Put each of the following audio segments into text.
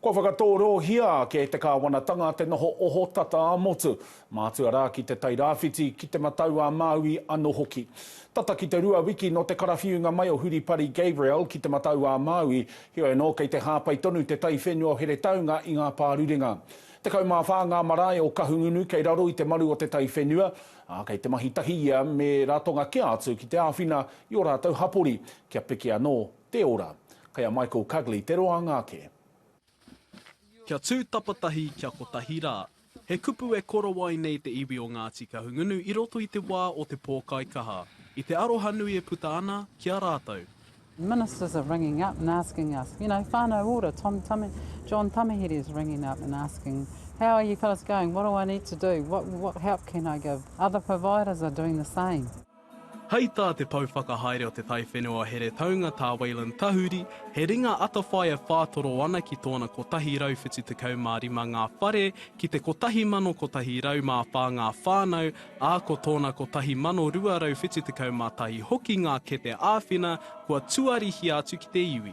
Kua whakatōrōhia ake e te kāwanatanga te noho ohotata ā-motu, mātua rā ki Te Tai Rāwhiti, ki Te Matau-ā-Māui anō hoki. Tata ki te rua wiki nō te karawhiunga mai o Huripari Gabriel ki Te Matau-ā-Māui, heoi anō kei te hāpai tonu te taiwhenua o Heretaunga i ngā pārurenga. Tekau mā whā ngā marae o Kahungunu kei raro i te maru o te taiwhenua, ā, kei te mahi tahi ia me Ratonga kē atu ki te āwhina i ō rātou hapori kia piki anō Te ora. Kei a Michael Cugley te roanga ake. Kia tū tapatahi, kia kotahi rā. He kupu e korowai nei te iwi o Ngāti Kahungunu i roto i te wā o te pōkaikaha. I te aroha nui e puta ana ki a rātou. Ministers are ringing up and asking us, you know, whānau ora, Tom Tame, John Tamihere is ringing up and asking, how are you fellas going, what do I need to do, what what help can I give, other providers are doing the same. Hei tā te pou whakahaere o te taiwhenua heretaunga tā Wayland Tahuri, he ringa atawhai e whātoro ana ki tōna 175 ngā whare ki te 1,104 ngā whānau, ā, ko tōna 1,271 hoki ngā kete āwhina kua tuarihia atu ki te iwi.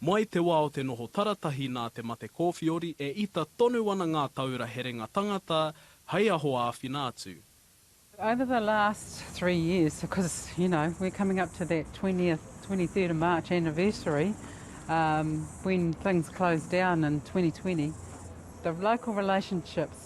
Mai te wā o te noho taratahi nā te mate kōwhiori e ita tonu ana ngā taura herenga tangata hei aho āwhina atu. Over the last three years, because you know we're coming up to that twentieth, twenty third of March anniversary when things closed down in twenty twenty, the local relationships,